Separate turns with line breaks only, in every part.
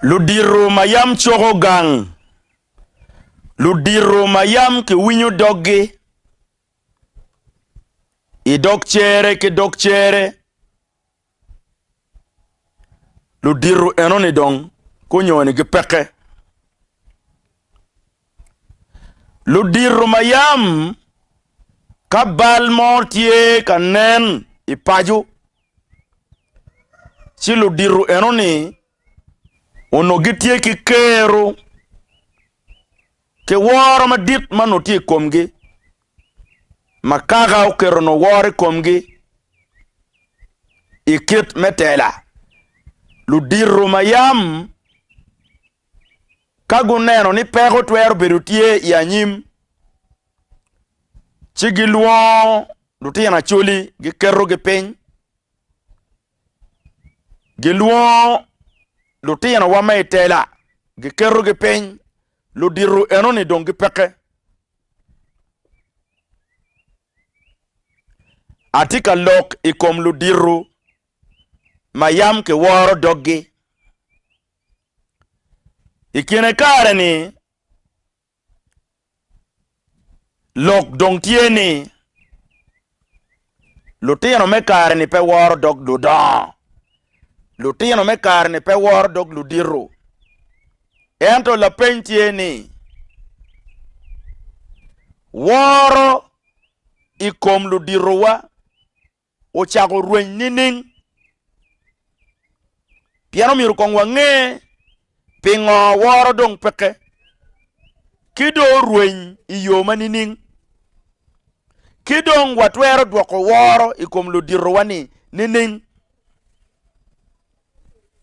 Ludito ma yam coko gang. Ludito ma yam kiwinyo doggi i dog cere ki dog cere. Ludito enoni dong gunyoni ki peke. Ludito ma yam ka bal mo tye ka nen i paco Ci ludito enoni onongo gitye ki kero ki woro madit ma onongo tye i komgi ma kaka oketo nongo woro i komgi i kit me tela ludito ma yam ka guneno ni peko twero bedo tye i anyim Ci gilwongo lutino Acholi giketogi piny gilwongo lutinowa ma i tela giketogi piny ludito enoni dong gipeke atye ka lok i kom ludito ma yam kiworo doggi i kine kare-ni Lok dong tye ni, lutino me kare-ni pe woro dog ludongo, lutino me kare-ni pe woro dog ludito. Ento lapeny tye ni, woro i kom luditowa ocako rweny nining? Pien omyero kong wange pingo woro dong peke, ki dong orweny i yo ma nining? Ki dong watwero dwoko woro i kom luditowa-ni nining?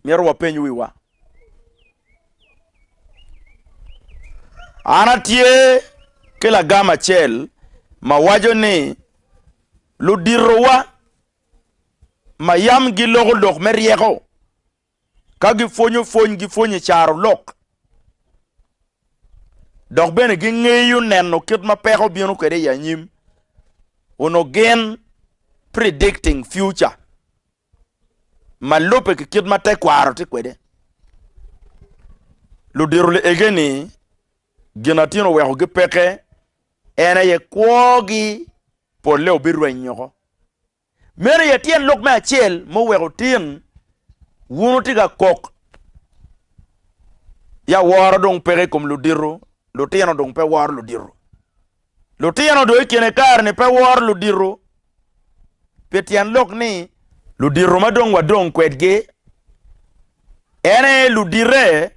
Myero wapeny wiwa. An atye ki lagam acel ma waco ni Luditowa ma yam giloko lok me ryeko ka gipwonyo pwony gipwonyo i caro lok dok bene gingeyo neno kit ma peko bino kwede i anyim onongo gin predicting future. ma lubbe ki kit ma tekwaro tye kwede. Ludito liege-ni Ginatin owekogi peke, en aye kwogi polle obirweny woko. Meno aye tyen lok me acel ma oweko tin wun wutye ka kok ya woro dong peke i kom ludito, lutino dong pe woro ludito. Lutino dong i kine kare-ni pe woro ludito pi tyen lok ni ludito ma dong wadong kwedgi en aye ludite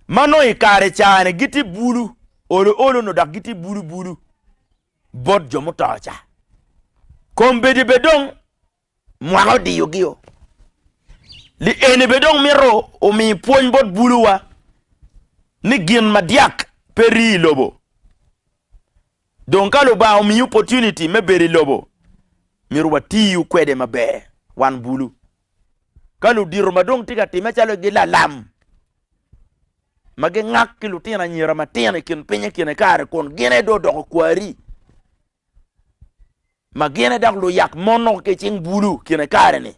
ma nongo i kare ca-ni gitye bulu olo olo nyo dok gitye bulu bulu bot jo muto ca. Kombeddi bene dong Mwaka odiyogio. Li eni bene dong mito omi pwony bot buluwa ni gin madyak pe rii i lobo. Dong ka Lubanga omiyi opportunity me bedo i lobo, myero watiyu kwede maber wan bulu. Ka ludito ma dong tye ka timme calo gi lalam ma gingak ki lutino anyira matino i kin piny i kine kare kun gin aye dong odoko kwari, ma gine dok luyak mono ki cing bulu kine kare ni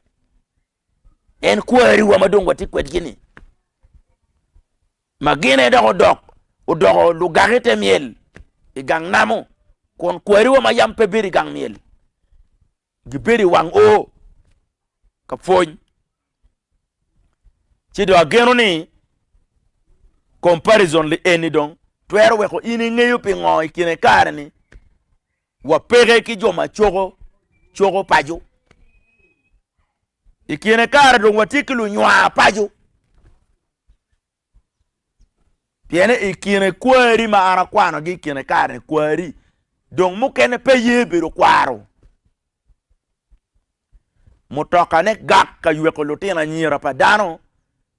en kwariwa ma dong watye kwedgi ni ma gine dok odok odoko lugaki te myel i gang namo kun kwariwa ma yam pe bedo i gang myel Gibedo i wang o ka pwony, ci dong ageno ni comparison li eni dong twero weko in ingeyo pingo i kine kare ni wapeke ki jo ma coko coko paco. I kine kare dong watye ki lunywar paco Pien i kine kwari ma an akwanogi i kine kare-ni, kwari dong mukene pe ye bedo kwaro. Mutokane gak ka yweko lutino anyira pa dano,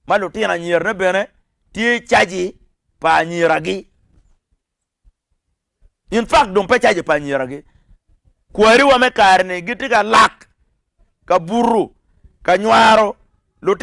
ma lutino anyirane bene tye i caji pa anyiragi. In fak dong pe caji pa anyiragi. Kwariwa me kare-ni gitye ka lak, ka buto, ka nywaro.